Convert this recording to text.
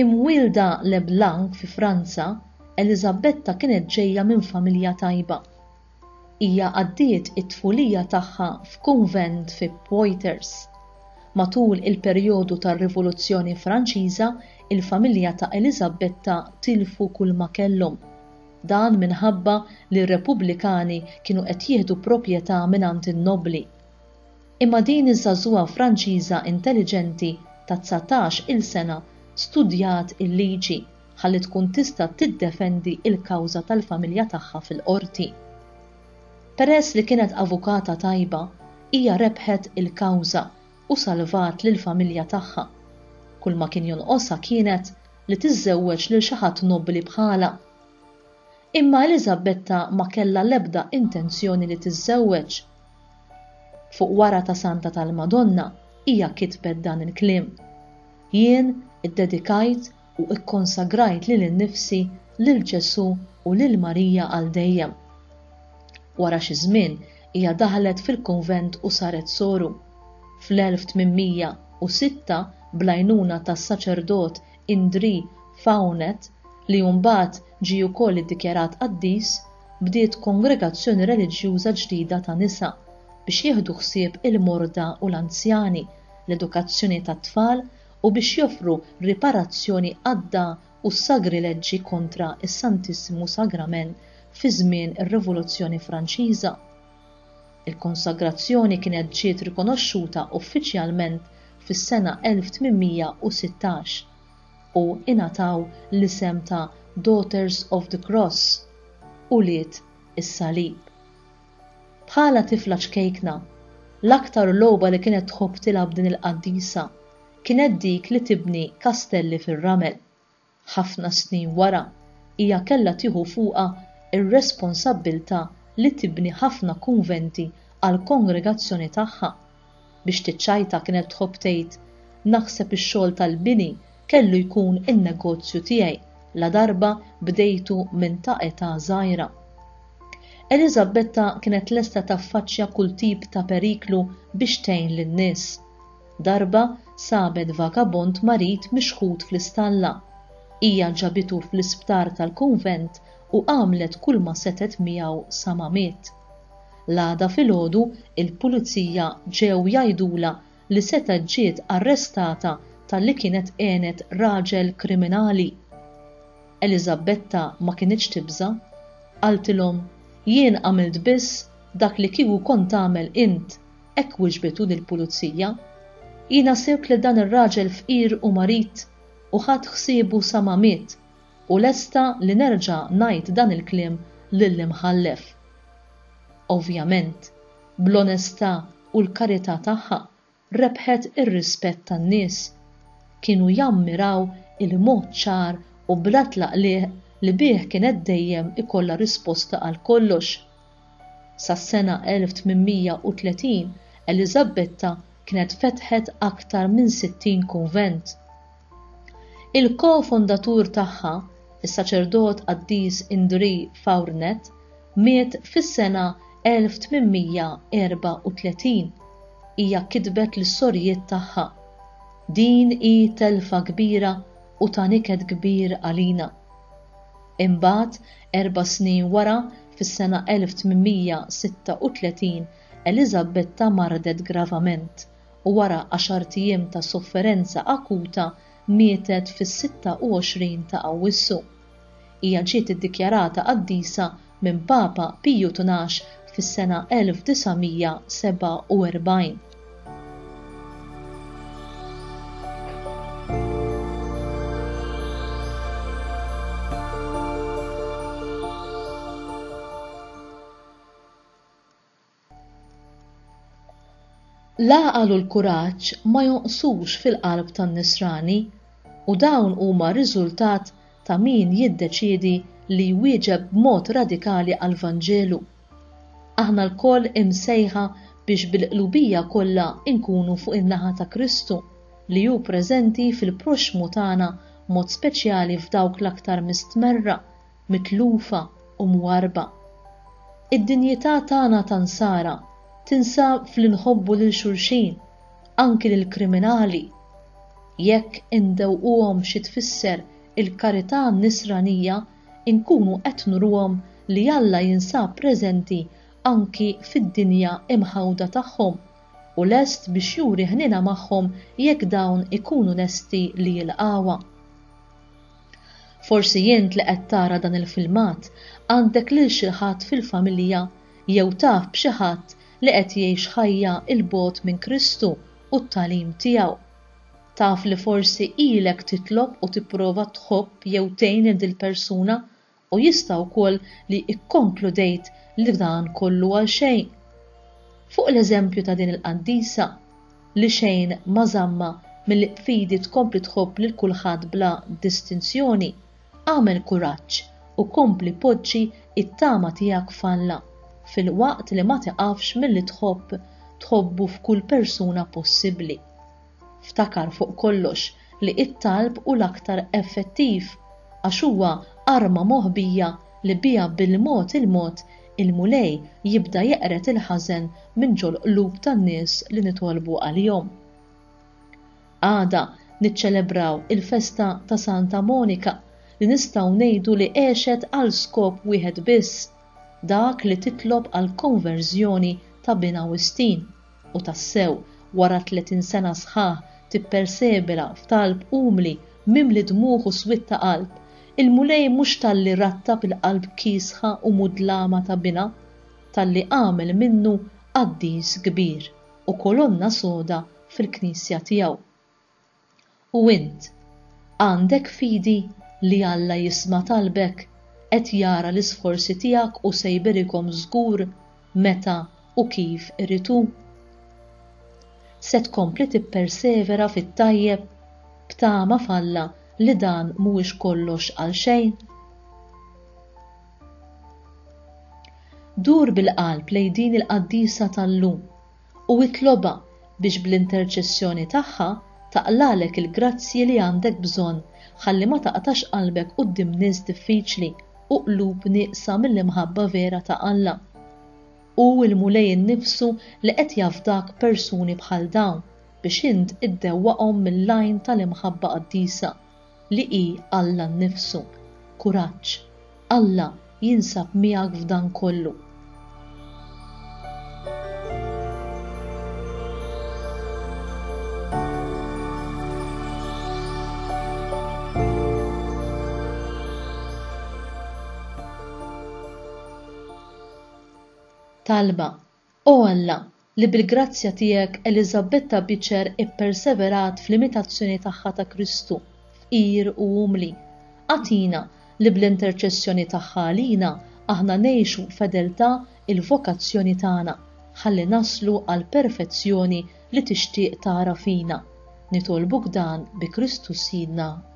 Imwielda Leblanc fi Franza, Eliżabetta kienet ġejja minn familja tajba. Hija għaddiet it-tfulija tagħha f'kunvent fi Poitiers. Matul il-perjodu tar-Rivoluzzjoni Franċiża, il-familja ta' Eliżabetta tilfu kulma kellhom. Dan minħabba li r-Repubblikani kienu qed jieħdu proprjetà mingħand in-nobbli. Imma din iż-żagħżugħa Franċiża intelliġenti ta' dsatax il sena studjat il-liġi ħalli tkun tista' tiddefendi l-kawża tal-familja tagħha fil-Qorti. Peress li kienet avukata tajba, hija rebħet il-kawża u salvat lill-familja tagħha. Kull ma kien jonqosha kienet li tiżżewweġ lil xi ħadd nobbli bħalha. Imma Eliżabetta ma kellha l-ebda intenzjoni li tiżżewweġ. Fuq wara ta' Santa tal-Madonna hija kitbet dan il-kliem, Jien iddedikajt u kkonsagrajt lili nnifsi lil Ġesù u lil Marija għal dejjem. Wara xi żmien hija daħlet fil-kunvent u saret soru. Fl-1806, bl-għajnuna tas-saċerdot Indrì Faunet, li mbagħad Ġie wkoll iddikjarat qaddis, bdiet kongregazzjoni reliġjuża ġdida ta' nisa biex jieħdu ħsieb il-morda u l-anzjani, l-edukazzjoni tat-tfal u biex joffru riparazzjoni adda u s-sagrileġġi kontra s-Santissimu Sagrament fi żmien ir-Rivoluzzjoni Franċiża. Il-konsagrazzjoni kienet ġiet rikonoxxuta uffiċjalment fis-sena 1816. u ingħataw l-isem ta' Daughters of the Cross, Ulied is-Salib. Bħala tifla ċkejkna, l-aktar logħba li kienet tħobb tilgħab din il-qaddisa kienet dik li tibni kastelli fir-ramel. Ħafna snin wara, hija kellha tieħu fuqha r-responsabbiltà li tibni ħafna kunventi għall-kongregazzjoni tagħha. Biex tiċċajta kienet tħobb tgħid, Naħseb ix-xogħol tal-bini kellu jkun in-negozju tiegħi ladarba bdejtu minn ta' età żgħira. Eliżabetta kienet lesta taffaċċja kull tip ta' periklu biex tgħin lin-nies. Darba sabet vagabond marid mixħut fl-istalla. Hija ġabitu fl-isptar tal-kunvent u għamlet kulma setgħet miegħu sa ma miet. L-għada filgħodu il-Pulizija ġew jgħidulha li setgħet ġiet arrestata talli kienet għenet raġel kriminali. Eliżabetta ma kinitx tibża'. Qaltilhom, Jien għamilt biss dak li kieku kont tagħmel int, hekk wiġbet hu lill-Pulizija. Jiena sirt lil dan ir-raġel fqir u marid u ħadt ħsiebu sa ma miet U lesta li nerġa' ngħid dan il-kliem lill-Imħallef. Ovvjament, bl-onestà u l-karità tagħha rebħet ir-rispett tan-nies. Kienu jammiraw il-mod ċar u bla tlaqliq li bih kienet dejjem ikollha risposta għal kollox, Sas-sena 1830, Eliżabetta kienet fetħet aktar minn 60 kunvent. Il-ko-fondatur tagħha, is-saċerdot qaddis Indrì Faurnet, miet fis-sena 1834. Hija kitbet lis-sorijiet tagħha, Din hi telfa kbira u ta' niket kbir għalina. Imbagħad, erba' snin wara, fis-sena 1836, Eliżabetta mardet gravament, u wara għaxart ijiem ta' sofferenza akuta mietet fis-26 ta' Awwissu. Hija ġiet iddikjarata qaddisa minn Papa Piju Tnax fis-sena 1947. L-għaqal u l-kuraġġ ma jonqsux fil-qalb tan-Nisrani u dawn huma r-riżultat ta' min jiddeċiedi li jwieġeb b'mod radikali għall-Vanġelu. Aħna lkoll imsejħa biex bil-qlubija kollha nkunu fuq in-naħa ta' Kristu, li hu preżenti fil-proxxmu tagħna b'mod speċjali f'dawk l-aktar mistmerra, mitlufa, u mwarrba. Id-dinjità tagħna ta' Nsara tinsab f'li nħobbu lil xulxin, anki lill-kriminali. Jekk indewquhom xi tfisser il-karità nisranija, inkunu qed nuruhom li Alla jinsab preżenti anki fid-dinja imħawda tagħhom u lest biex juri ħniena magħhom jekk dawn ikunu lesti li jilqgħuha. Forsi int li qed tara dan il-filmat għandek lil xi ħadd fil-familja jew taf b'xi ħadd li qed jgħix ħajja 'l bogħod minn Kristu u t-tagħlim tiegħu. Taf li forsi ilek titlob u tipprova tħobb jew tgħin lil dil-persuna u jista' wkoll li kkonkludejt li dan kollu għal xejn. Fuq l-eżempju ta' din il-qaddisa, li xejn ma żammha milli b'fidi tkompli tħobb lil kulħadd bla distinzjoni, agħmel kuraġġ u kompli poġġi t-tama tiegħek f'Alla, filwaqt li ma tiqafx milli tħobb tħobbu f'kull persuna possibbli. Ftakar fuq kollox li t-talb hu l-aktar effettiv għax huwa arma moħbija li biha bil-mod il-mod il-Mulej jibda jeqred il-ħażen minn ġol-qlub tan-nies li nitolbu għalihom. Għada niċċelebraw il-festa ta' Santa Monika li nistgħu ngħidu li għexet għal skop wieħed biss, dak li titlob għall-konverżjoni ta' binha Wistin. U tassew, wara tletin sena sħaħ tippersevera f'talb umli, mimli dmugħ u swied ta' qalb, il-Mulej mhux talli rattab il-qalb kiesħa u mudlama ta' Binha, talli għamel minnu qaddis kbir u kolonna soda fil-Knisja tiegħu. U int, għandek fidi li Alla jisma' talbek, qed jara l-isforzi tiegħek u se jberikhom żgur meta u kif irid hu? Se tkompli tippersevera fit-tajjeb b'tama f'Alla li dan mhuwiex kollox għal xejn? Dur bil-qalb lejn din il-qaddisa tal-lum u itlobha biex bl-interċessjoni tagħha taqlagħlek il-grazzji li għandek bżonn ħalli ma taqtax qalbek quddiem nies diffiċli u qlub nieqsa mill-imħabba vera ta' Alla. Hu l-Mulej innifsu li qed jafdak persuni bħal dawn biex int iddewwaqhom mill-għajn tal-imħabba qaddisa. li hi Alla nnifsu. Kuraġġ! Alla jinsab miegħek f'dan kollu. Talba, O Alla, li bil-grazzja tiegħek Eliżabetta Biċer ipperseverat fl-imitazzjoni tagħha ta' Kristu, fqir u umli, agħtina li bl-interċessjoni tagħha għalina aħna ngħixu b'fedeltà l-vokazzjoni tagħna, ħalli naslu għall-perfezzjoni li tixtieq tara fina. Nitolbuk dan bi Kristu Sidna.